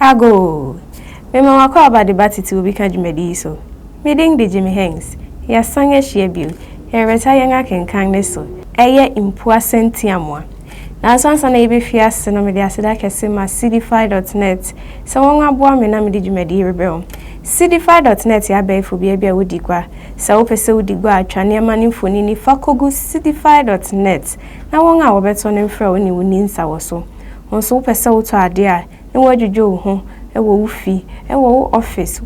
Ago! Mema w'akwaaba de ba titiriw bi ka dwumadi yi so. Me din de Jimmy Hengst. Yɛasan ahyia bio. Yɛrebɛtra yɛn akenkan no so. Ɛyɛ Mpuase Ntiamoa. Nanso ansa na yebefi ase no, mede aseda kɛse ma Seedify dot net sɛ wɔaboa me na mede dwumadi yi rebrɛ wo. Seedify dot net yɛ abɛɛfo bea bi a wodi gua. Sɛ wopɛ sɛ wudi gua a, twa nneɛma no mfonini fa kogu Seedify dot net na wɔn a wɔbɛtɔ no mfrɛ wo ne wo nni nsa wɔ so. Wo nso wopɛ sɛ wotɔ ade a, na woadwudwo wo ho wɔ wo fi, wɔ wo ɔfis,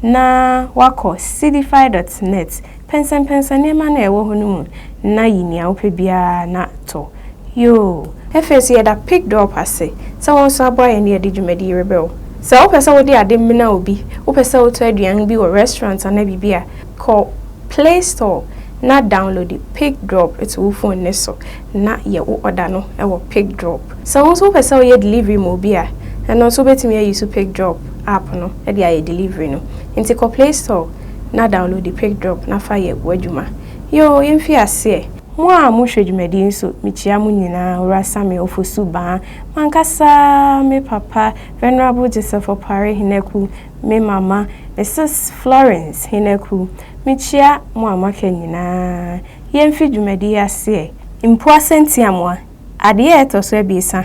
na woakɔ Seedify dot net. Pɛnsɛmpɛnsɛm nneɛma no a ɛwɔ hɔ no mu na yi nea wopɛ biara na tɔ. Yoo! Afei nso yɛda PICDOP ase sɛ wɔn nso aboa yɛn de adi dwumadi yi rebrɛ wo. Sɛ wopɛ sɛ wode ade mena obi, wopɛ sɛ wotɔ aduan bi wɔ restaurant anaa biribi a, kɔ Play Store na downloadi PICDROP to wo fon no so na yɛ wo ɔda no wɔ PICDROP. Sɛ wo nso wopɛ sɛ woyɛ delivery ma obi a, ɛno nso wobɛtumi ayusu PICDROP app no de ayɛ delivery no. Enti kɔ Play Store na downloadi PICDROP na fa yɛ w'adwuma. Yoo! Yɛmfii aseɛ! Mo a mo hwɛ dwumadie nso me kyia mo nyinaa Owura Sammy Ofosu Baa, mankasa me papa Venerable Joseph Opare Henaku, me mama me sis Florence Henaku, me kyia mo a mo aka nyinaa Yɛn fi dwumadie yi aseɛ. Mpuase Ntiamoa. Adeɛ a ɛtɔ so abiɛsa,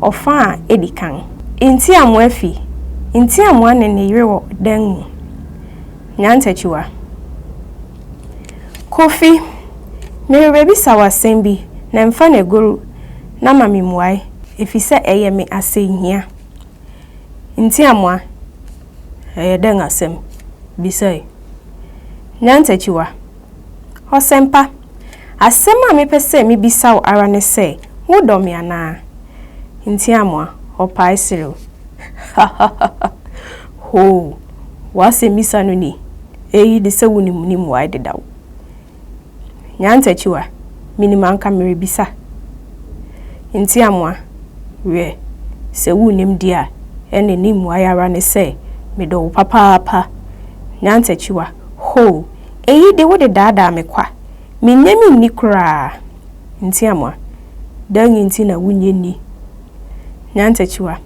ɔfã a edi kan. Ntiamoa fi, Ntiamoa ne ne yere wɔ dan mu. Nyantakyiwa. Kofi, Merebɛbisa wo asɛm bi na mfa no agoru na ma me mmuae efisɛ ɛyɛ me asɛnhia. Ntiamoa, Ɛyɛ dɛn asɛm? Bisae. Nyantakyiwa. Ɔsɛmpa, asɛm a mepɛ sɛ mibisa wo ara ne sɛ, wodɔ me anaa? Ntiamoa, Ɔpae serew. Hahahaha! Hoo! W'asɛmmisa no ni, Eyi de sɛ wunim ne mmuae dedaw. Nyantakyiwa, Minim anka merebisa. Ntiamoa, Wiɛ, sɛ wunnim de a, ɛnde ne mmuae ara ne sɛ, Medɔ wo papaapa. Nyantakyiwa, Hoo! Eyi de wode daadaa me kwa. Minnye me nni koraa. Ntiamoa, Dɛn nti na wunnye nni? Nyantakyiwa,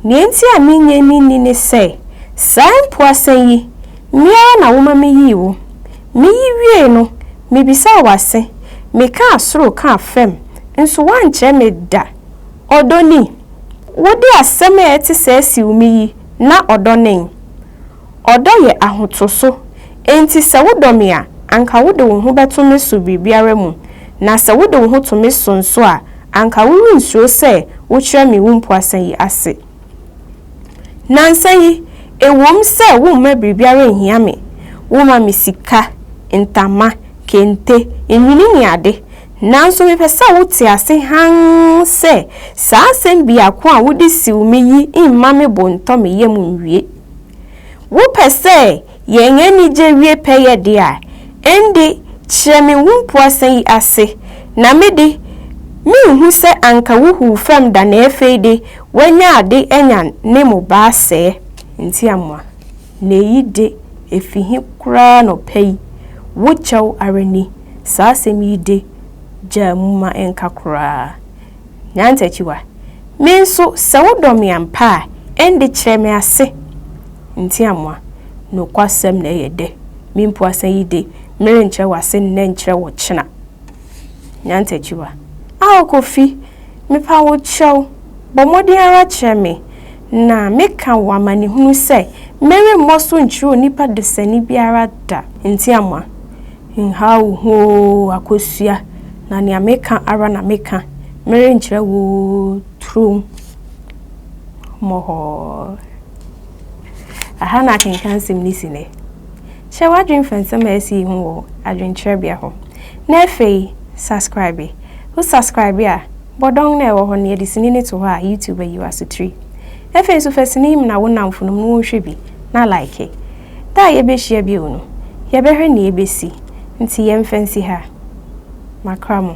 Nea enti a minnye me nni ne sɛ, saa mpoasan yi, me ara na woma miyii wo. Miyi wiei no, mibisaa w'ase, mekaa soro kaa fam, nso woankyerɛ me da. Ɔdɔ ni? Wode asɛm a ɛte sɛɛ siw me yi, na ɔdɔ nen? Ɔdɔ yɛ ahotoso, enti sɛ wodɔ me a, anka wode wo ho bɛto me so biribiara mu, na sɛ wode wo ho to me so nso a, anka worensuro sɛ wokyerɛ me wo mpuasa yi ase. Nnansa yi, ɛwom sɛ womma biribiara nhia me, woma me sika, ntama, kente, nnwinne ne ade, nanso mepɛ sɛ wote ase hann sɛ saa asɛm biako a wode siw me yi mma me bo ntɔ me yam nwie. Wopɛ sɛ yɛn anigye wie pɛyɛ de a, ɛnde kyerɛ me wo mpuasa yi ase, na me de, merenhu sɛ anka wuhuw fam da na afei de woanya ade anya ne mmobaa sɛɛ. Enti amoa, na eyi de efi he koraa anɔpa yi? Wo kyɛw ara ni, saa asɛm yi de, gyaa mu ma ɛnka koraa. Nyantakyiwa, Me nso, sɛ wodɔ me ampa a, ɛnde kyerɛ me ase. Ntiamoa, Nokwasɛm na ɛyɛ dɛ. Me mpuasa yi de, merenkyerɛ wo ase nnɛ nkyerɛ wo ɔkyena. Nyantakyiwa, Ao Kofi, mepa wo kyɛw, bɔ mmɔden ara kyerɛ me, na meka wo amanehunu sɛ meremmɔ so nkyerɛ onipa desani biara da. Ntiamoa, Nhaw wo ho oo akosua, na nea meka ara na meka, merenkyerɛ wo turo mmɔhɔ. Aha na akenkan nsɛm no si nnɛ. Hyɛ w'adwene fa nsɛm a asi yi ho wɔ adwenkyerɛbea hɔ, na afei subscribe. Wo subscribe a, bɔ dɔn no a ɛwɔ hɔ no, yɛde sini no to hɔ a, YouTube ayi w'asotiri. Afei nso fa sini yi mena wo nnamfonom na wɔnhwɛ bi, na like. Da a yɛbɛhyia bio no, yɛbɛhwɛ nea ɛbɛsi, nti yɛmfa nsi ha. Makra mo.